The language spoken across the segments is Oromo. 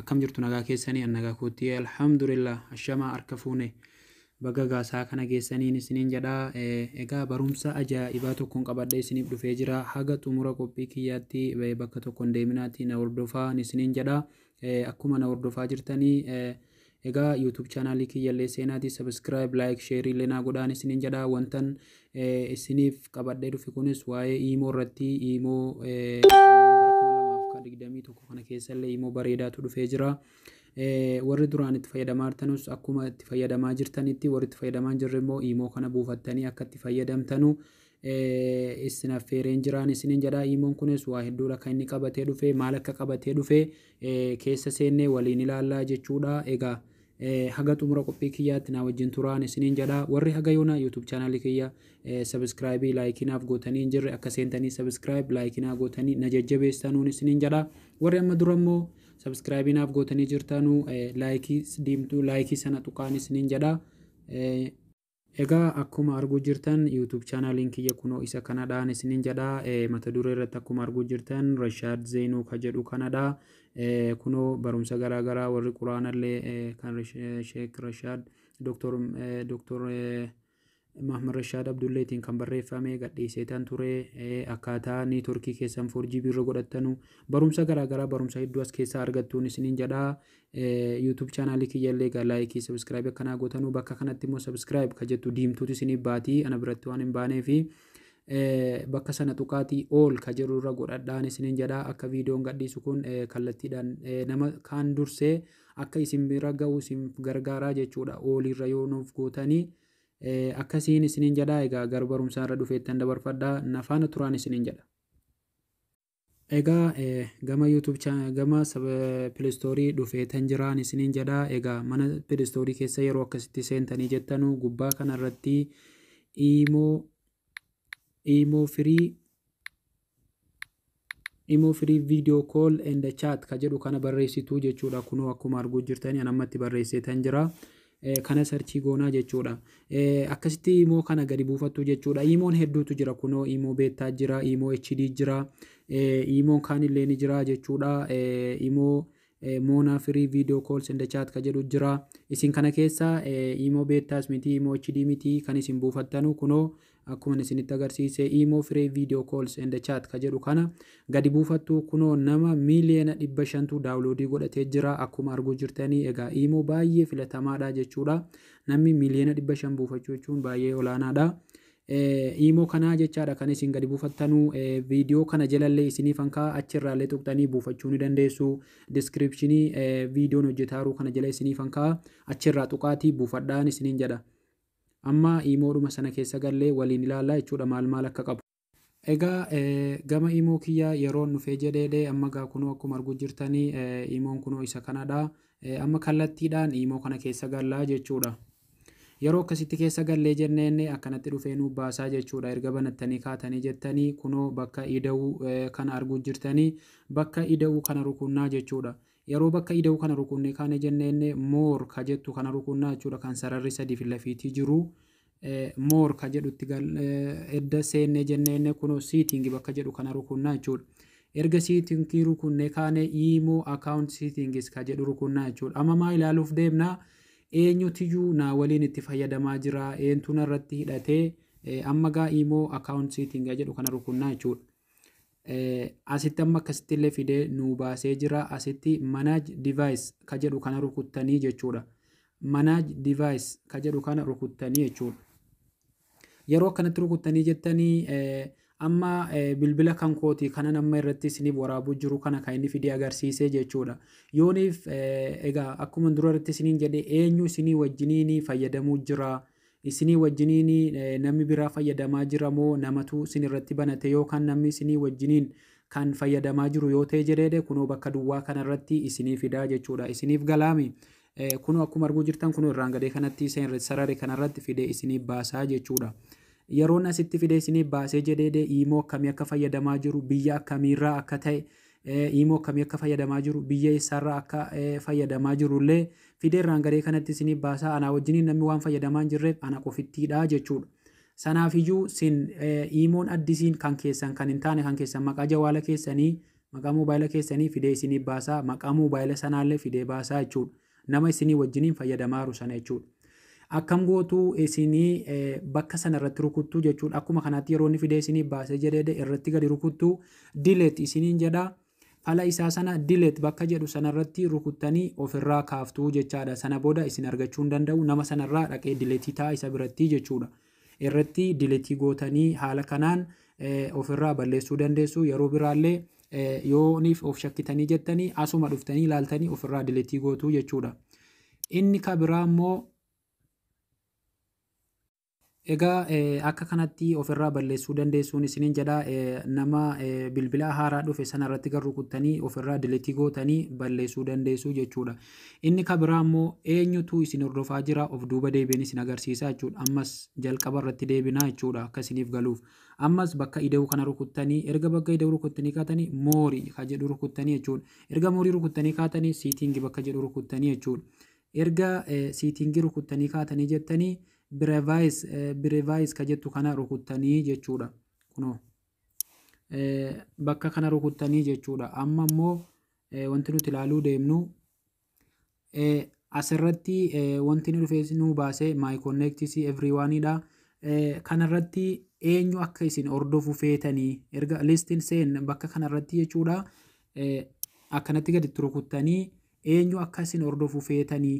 Akkam jirtu nagaa keessanii an nagaa koottii alhamdulillah ashamaa harka fuune baga gaasaa kana geessaniin isiniin jedha egaa barumsa ajaa'ibaa tokkon qabadhee isiniif dhufee jira haga xumura qophii kiyyaatti bakka tokkon deeminaatti na hordofaa isiniin jedha akkuma na hordofaa jirtanii Egaa YouTube channel kiyyallee seenaati subscribe like share illee naa godhaan isiniin jedha wantan eh, isiniif qabadhee dhufe kunis waa'ee iimoo irratti iimoo eh, bara 2021 kana keessallee iimoo bareedaatu dhufee jira. Eh, warri duraan itti fayyadamaa jirtanus akkuma itti fayyadamaa jirtanitti warri itti fayyadamaa hin jirre immoo iimoo kana buufattanii akka itti fayyadamtanu issin affeereen jiraan isinin jedha iimon kunis waa hedduudha kan inni qabatee dhufe maal akka qabatee dhufe keessa seennee waliin ilaallaa jechuudha egaa haga xumura qophii kiyyaatti naa wajjin turaan isinin jedha warri haga yoona youtube chaanaalii kiyya sabiskiraayibii laayikinaaf gootanii hin jirre akka seentanii sabiskiraayib laayikinaa gootanii na jajjabeessanuun isinin jedha warri amma dura immoo sabiskiraayibii naaf gootanii jirtaanuu laayikii diimtuu laayikii sana tuqaan isinin jedha Egaa akkuma arguu jirtan YouTube channel kiyya kunoo isa kanadhaan isinin jedha mata duree irratti akkuma arguu jirtan Rashaad Zeenuu ka jedhu kanadha kunoo barumsa garaa garaa warri quraanallee kan Sheek Rashaad Dr. Dr. Mahmad Rashaad Abdulleetiin kan barreeffame gadhiiseetan ture akkaataa niitorkii keessan 4GB irra godhattanu barumsa garaa garaa barumsa hedduu as keessaa argattuun isinin jedha YouTube channel kiyya illee egaa like subscribe akka naa gootanuu bakka kanatti immoo subscribe ka jettu diimtuutu isinii baatii ana biratti waan hin baaneefi bakka sana tuqaatii all ka jedhu irra godhadhaan isiniin jedha akka viidiyoon gadhiisu kun kallattiidhaan nama kaan dursee akka isin bira ga'u isin gargaaraa jechuudha all irra yoo nuuf gootanii akkasiin isiniin jedha egaa gara barumsaa irra dhufeettan dabarfadha nafaana turaan isiniin jedha. Egaa gama YouTube cha- gama sab- Play Store dhufeetan jiraan isiniin jedha. Egaa mana Play Store keessa yeroo akkasitti seentanii jettanu gubbaa kana irratti iimoo iimoo firii imoo firii video call and chat ka jedhu kana barreessitu jechuudha. Kunoo akkuma arguu jirtanii an ammatti barreesseetan jira. kana sarchii goonaa jechuudha. Akkasitti imoo kana gadi buufattu jechuudha. Imoon hedduutu jira kunoo imoo beettaa jira, imoo HD jira, imoon kaan illee ni jira jechuudha. Imoo moonaa firii viidiyoo kools inda chaat ka jedhu jira. Isin kana keessa imoo beettaas miti, imoo HD miti kan isin buufattanu kunoo Akkuman isinitti agarsiise imo free video calls and chat ka jedhu kana gadi buufattu kunoo nama miiliyoona dhibba shantu daawuloodii godhatee jira akkuma arguu jirtanii egaa imo baay'ee filatamaadha jechuudha namni miiliyoona dhibba shan buufachuu jechuun baay'ee olaanaadha. Imo kanaa jechaadha kan isin gadi buufattanu viidiyoo kana jalallee isiniif hankaa achirraallee tuqxanii buufachuu ni dandeessu diskiripshinii viidiyoon hojjetaaruu kana jala isiniif hankaa achirraa tuqaatii buufadhaan isiniin jedha. Amma imoodhuma sana keessa gallee waliin ilaalla jechuudha maal maal akka qabu. Egaa gama imoo kiyyaa yeroon dhufee jedheedhe amma gaa kunoo akkuma arguu jirtanii imoon kunoo isa kanadha. Amma kallattiidhaan imoo kana keessa gallaa jechuudha. Yeroo akkasitti keessa gallee jenneen akkanatti dhufee nuu baasaa jechuudha. Erga banattanii kaatanii jettanii kunoo bakka ida'uu kana arguu jirtanii bakka ida'uu kana rukunnaa jechuudha. Yeroo bakka ida'uu kana rukunnee kaane jenneen more ka jettu kana rukunnaa jechuudha kan sararri sadii fi lafiitii jiru more ka jedhutti edda seennee jenneen kunoo seating bakka jedhu kana rukunnaa jechuudha. Erga seating rukunnee kaane imo account settings ka jedhu rukunnaa jechuudha. Amma maa ilaaluuf deemna eenyutiyyuu naa waliin itti fayyadamaa jira eentuun irratti hidhatee amma gaa imo account setting jedhu kana rukunnaa jechuudha. Asitti amma akkasitti illee fidee nuu baasee jira. Asitti manage device ka jedhu kana rukuttanii jechuudha. Manage device ka jedhu kana rukuttanii jechuudha. Yeroo akkanatti rukuttanii jettanii amma bilbila kan kooti kanan amma irratti isiniif waraabuu jiru kana kan inni fidee agarsiisee jechuudha. Yooniif egaa akkuma dura irratti isiniin jedhe eenyu isinii wajjiniin fayyadamuu jira. Isinii wajjiniin nammi biraa fayyadamaa jira moo namatu sin irratti banate yoo kan nammi isinii wajjiniin kan fayyadamaa jiru yoo ta'e jedheedhe kunoo bakka duwwaa kana irratti isinii fidaa jechuudha isiniif galaami kunoo akkuma arguu jirtan kunoo irraan gadee kanatti isa irratti sarare kana irratti fidee isinii baasaa jechuudha. Yeroon asitti fidee isinii baasee jedheedhe iimoo akkamii akka fayyadamaa jiru biyya akkamiirraa akka ta'e Iimoo akkamii akka fayyadamaa jiru, biyya eessaarraa akka fayyadamaa jirullee fideerraan garee kanatti isiniif baasaa. Anaa wajjiniin namni waan fayyadamaa hin jirreef ana qofittiidha jechuudha. Sanaafiyyuu sin iimoon addisiin kan keessan kan hin taane kan keessan maqaa jawaala keessanii maqaa moobaayila keessanii fidee isiniif baasaa maqaa moobaayila sanaallee fidee baasaa jechuudha. Nama isinii wajjiniin fayyadamaaru sana jechuudha. Akkam gootu isinii bakka sana irratti rukuttu jechuudha. Akkuma kanaatti yeroo inni fidee isinii baasee jedhee irratti gadi rukuttu dileet isiniin jedha. Fala isaa sana dileet bakka jedhu sana irratti rukuttanii ofirraa kaaftuu jechaadha. Sana booda isin argachuu hin danda'u. Nama sanarraa dhaqee dileetii ta'a isa biratti jechuudha. irratti diletii gootanii haala kanaan ofirraa balleessuu dandeessu yeroo biraallee yooniif of shakkitanii jettanii asuma dhuftanii ilaaltanii ofirraa diletii gootuu jechuudha. Inni ka biraa immoo egaa akka kanatti ofirraa balleessuu dandeessuun isiniin jedha nama bilbila haaraa dhufe sana irratti garuu kuttanii ofirraa diletii gootanii balleessuu dandeessu jechuudha. Inni ka biraa immoo, Eenyutu isin hordofaa jira? Of duuba deebi'een isin agarsiisa jechuu dha. Ammas jalqaba irratti deebina jechuu dha, akka isiniif galuuf. Ammas bakka ida'uu kana rukuttanii, erga bakka ida'uu rukuttanii kaatanii, More ka jedhu rukuttanii jechuu dha. Erga More rukuttanii kaatanii, Setting bakka jedhu rukuttanii jechuu dha. Erga eh, Setting rukuttanii kaatanii jettanii, Brevice, eh, Brevice ka jettu kana rukuttanii jechuu dha. Kunoo. Eh, bakka kana rukuttanii jechuu dha. Amma immoo Eh, wanti nuti ilaaluu deemnu eh, asirratti eh, wanti nu dhufees nu baase my connect see everyone dha. Eh, kanarratti eenyu akka isin hordofu feetanii erga listin seen bakka kanarratti jechuudha eh, akkanatti gadi turukuttanii eenyu akka isin hordofu feetanii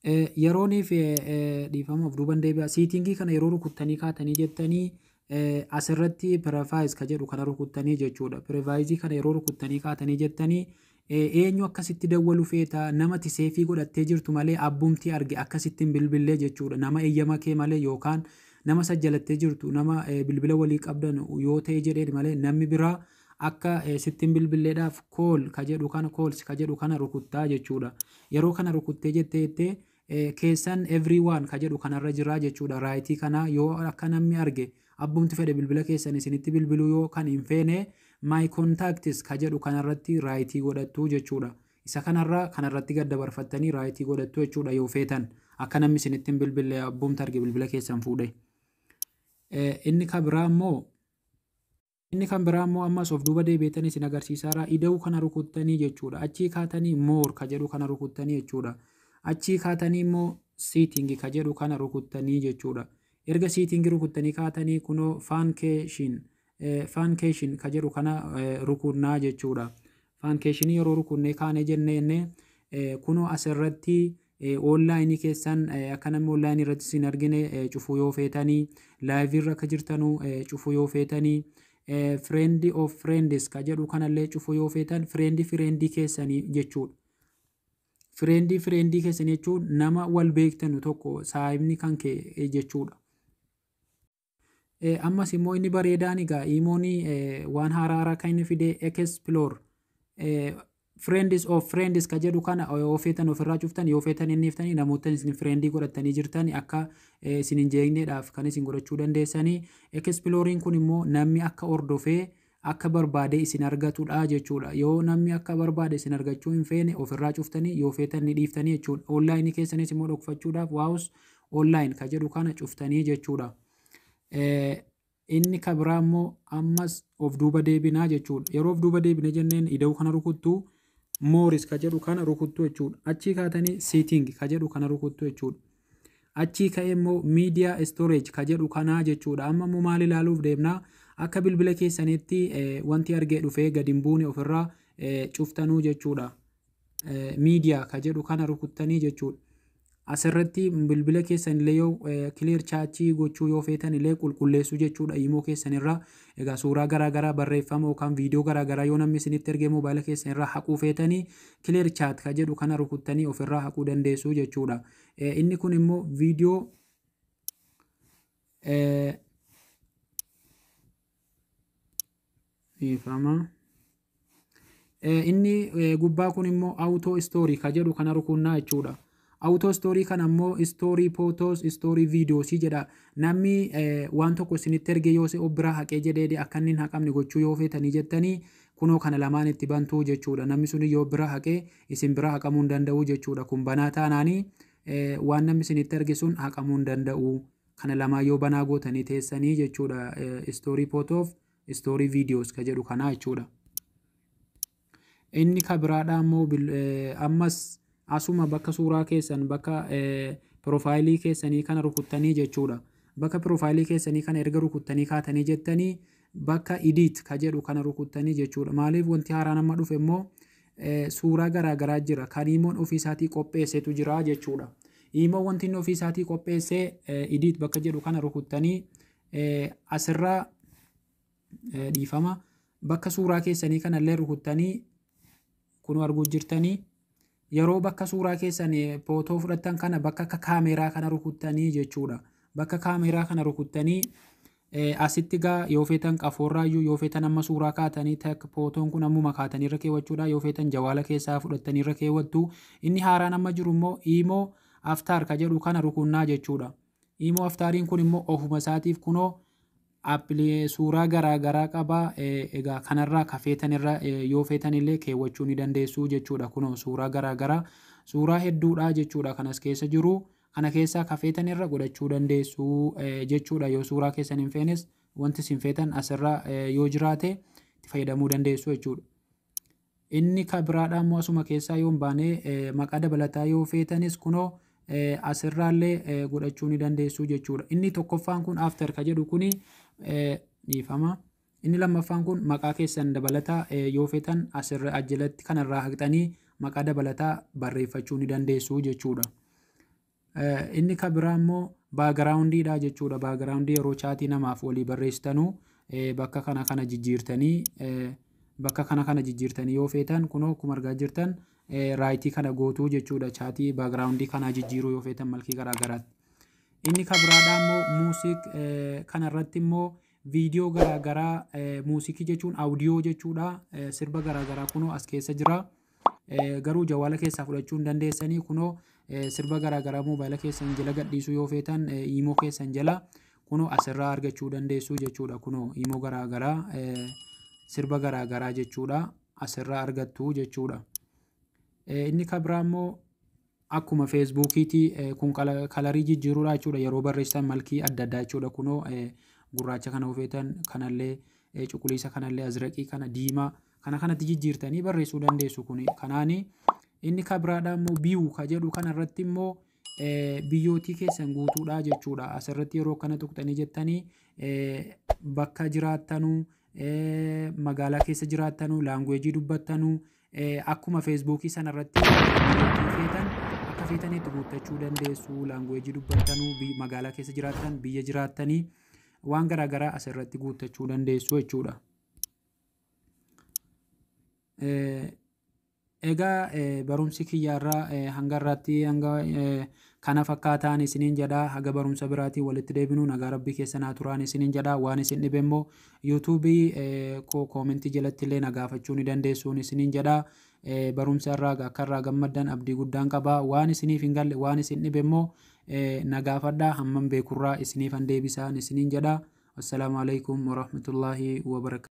Eh, yerooniif eh, eh, dhiifama of duuban deebi'a siitingii kana yeroo rukuttanii kaatanii jettanii eh, asirratti pirefaayiz ka jedhu kana rukuttanii jechuudha pirefaayizii kana yeroo rukuttanii kaatanii jettanii eh, eenyu akkasitti dawwalu feeta nama tiseefii godhattee jirtu malee abbumtii arge akkasittiin bilbillee jechuudha nama eeyyama kee malee yookaan nama sajjalattee jirtu nama eh, bilbila walii qabdan yoo ta'e jedheen malee namni biraa Akka sitti hin bilbilleedhaaf call ka jedhu kana calls ka jedhu kana rukuttaa jechuudha. Yeroo kana rukuttee jettee jettee keessan everyone ka jedhu kanarra jira jechuudha. Raayitii kana yoo akka namni arge abbumti fedhe bilbila keessan isinitti bilbiluu yoo kan hin feene my contacts ka jedhu kanarratti raayitii godhattu jechuudha. Isa kanarra kanarratti gad dabarfattanii raayitii godhattu jechuudha yoo feetan akka namni isinitti hin bilbille abbumti arge bilbila keessan fuudhe. Inni ka biraa immoo Inni kan biraa immoo ammas of duuba deebi'eetanii isin agarsiisaara. Ida'uu kana rukuttanii jechuudha. Achii kaatanii moor ka jedhu kana rukuttanii jechuudha. Achii kaatanii immoo siitingi ka jedhu kana rukuttanii jechuudha. Erga siitingi rukuttanii kaatanii kunoo faankeeshin faankeeshin ka jedhu kana rukunnaa jechuudha. Faankeeshinii yeroo rukunnee kaanee jennee jennee kunoo as irratti oonlaayinii keessan akka namni oonlaayinii irratti isin argine cufuu yoo feetanii laayivii irra akka jirtanuu cufuu yoo feetanii fireendi of fireendes ka jedhu kanallee cufuu yoo feetan fireendi fireendii keessanii jechuudha. Fireendii fireendii keessanii jechuun nama wal beektanu tokko saayibni kan kee jechuudha. Ammas immoo inni bareedaan egaa iimoon waan haaraa haaraa kan inni fide explore friends of friends ka jedhu kana yoo feetan ofirraa cuftan yoo feetan inni iftanii namoota isin friendii godhatanii jirtan akka isin hin jeeqneedhaaf kan isin godhachuu dandeessanii exploriin kun immoo namni akka hordofee akka barbaade isin argatu dha jechuu dha. Yoo namni akka barbaade isin argachuu hin feene of irraa cuftanii yoo feetan ni dhiiftanii jechuu dha. Online keessanis immoo dhokfachuudhaaf waus online ka jedhu kana cuftanii jechuu dha. Inni ka biraa immoo ammas of duuba deebinaa jechuu dha. Yeroo of duuba deebine jenneen ida'uu kana rukuttuu mooris ka jedhu kana rukuttuu jechuu dha. Achii kaatanii seeting ka jedhu kana rukuttuu jechuu dha. Achii ka'ee immoo media storage ka jedhu kanaa jechuudha. Amma immoo maal ilaaluuf deemna? Akka bilbila keessanitti eh, wanti argee dhufee gadi hin buune ofirraa eh, cuftanuu jechuudha. Eh, media ka jedhu kana rukuttanii jechuudha. Asirratti bilbila keessan illee yoo eh, clear chaachii gochuu yoo feetan illee qulqulleessu jechuudha. Imoo keessan irraa Egaa suuraa garaa garaa, barreeffama yookaan viidiyoo garaa garaa yoo namni isinitti ergee moobaayila keessan irraa haquu feetanii clear chat ka jedhu kana rukuttanii of irraa haquu dandeessu jechuudha. Eh, Inni kun immoo viidiyoo eh, dhiifama. inni gubbaa kun immoo auto story ka jedhu kana rukunnaa jechuudha. Auto story kana immoo story photos, story videos jedha. Namni waan tokko isinitti erge yoo si biraa haqee jedhee akka inni hin haqamne gochuu yoo feetanii jettanii kunoo kana lamaan itti bantuu jechuudha. Namni sun yoo biraa haqee isin biraa haqamuu hin danda'u jechuudha. Kun banaa taanaanii waan namni isinitti erge sun haqamuu hin danda'u. Kana lamaa yoo banaa gootanii teessanii jechuudha. Story photos story videos ka jedhu kanaa jechuudha. Inni ka biraadhaa immoo bil- eh, ammas asuma bakka suuraa keessan bakka eh, piroofaayilii keessanii kana rukuttanii jechuudha. Bakka piroofaayilii keessanii kana erga rukuttanii kaatanii jettanii bakka idiit ka jedhu kana rukuttanii jechuudha. Maaliif wanti haaraan amma dhufe immoo eh, suuraa garaa garaa jira. Kan iimoon ofii isaatii qopheessetu jira jechuudha. Iimoon wanti inni ofii isaatii qopheessee eh, idiit bakka jedhu kana rukuttanii asirra dhiifama bakka suuraa keessanii kanallee rukuttanii kun arguu jirtanii yeroo bakka suuraa keessan footoo fudhattan kana bakka akka kaameeraa kana rukuttanii jechuudha. Bakka kaameeraa kana rukuttanii asitti gaa yoo feetan qafoorraayyuu yoo feetan amma suuraa kaatanii takka footoon kun ammuma kaatanii irra keewwachuudha yoo feetan jawaala keessaa fudhattanii irra keewwattu inni haaraan amma jiru immoo iimoo aftaar ka jedhu kana rukunnaa jechuudha. Imo aftaariin kun immoo ofuma isaatiif kunoo appilii suuraa garaa garaa qaba egaa kanarraa ka feetanirra yoo feetanillee keewwachuu ni dandeessuu jechuudha kunoo suuraa garaa garaa suuraa hedduudha jechuudha kanas keessa jiru kana keessaa ka feetanirra godhachuu dandeessuu jechuudha yoo suuraa keessan hin feenes wanti isin feetan asirra yoo jiraate itti fayyadamuu dandeessuu jechuudha. Inni ka biraadhaa immoo asuma keessaa yoo hin baane maqaa dabalataa yoo feetanis kunoo asirraallee godhachuu ni dandeessuu jechuudha. Inni tokkoffaan kun after ka jedhu kuni dhiifama. Inni lammaffaan kun maqaa keessan dabalataa yoo feetan asirra ajjalatti kanarraa haqxanii maqaa dabalataa barreeffachuu ni dandeessuu jechuudha. Inni ka biraa immoo baagiraawundii dha jechuudha. Baagiraawundii yeroo chaatii namaaf walii barreessitanuu bakka kana kana jijjiirtanii bakka kana kana jijjiirtanii yoo feetan kunoo akkuma argaa jirtan raayitii kana gootuu jechuudha. Chaatii baagiraawundii kanaa jijjiiruu yoo feetan malkii garaa garaatti. Inni ka biraadhaa immoo muusiik kana irratti immoo viidiyoo garaa garaa muusikii jechuun awudiyoo jechuudha. Sirba garaa garaa kunoo as keessa jira. Eh, garuu jawaala keessaa fudhachuu hin dandeessanii kunoo eh, sirba garaa garaa moobaayila keessan jala gadhiisuu yoo feetan eh, iimoo keessan jala kunoo asirraa argachuu dandeessuu jechuudha kunoo iimoo garaa garaa eh, sirba garaa garaa jechuudha asirraa argattu jechuudha. Eh, inni kabraa immoo Akkuma feesbuukiiti kun kalarii jijjiiruudha jechuudha yeroo barreessitan malkii adda addaa jechuudha kunoo gurraacha kana hofeetan kanallee cuquliisa kanallee azraqii kana diimaa kana kanatti jijjiirtanii barreessuu dandeessu kun kanaani inni kabiraadhaa immoo biyuu ka jedhu kanarratti immoo biyyootii keessan guutuudhaa jechuudha asirratti yeroo kana tuqxanii jettanii bakka jiraattanuu magaalaa keessa jiraattanu laanguweejii dubbattanu akkuma feesbuukii sana irratti feetan akka feetanitti guuttachuu dandeessu laanguweejii dubbattanu magaalaa keessa jiraattan biyya jiraattanii waan garaa garaa asirratti guuttachuu dandeessu jechuudha. Egaa barumsi kiyya irraa hanga irraatti hanga kana fakkaataan isiniin jedha haga barumsa biraatiin walitti deebinu nagaa rabbii keessa naa turaan isiniin jedha waan isin dhibe immoo yuutuubii koo koomentii jalatti illee na gaafachuu ni dandeessuun isiniin jedha barumsa irraa akka irraa gammaddan abdii guddaan qaba waan isiniif hin galle waan isin dhibe immoo na gaafadha hammam beekurraa isiniif han deebisaan isiniin jedha assalaamu alaikum warahmatullaahi wabarakatuh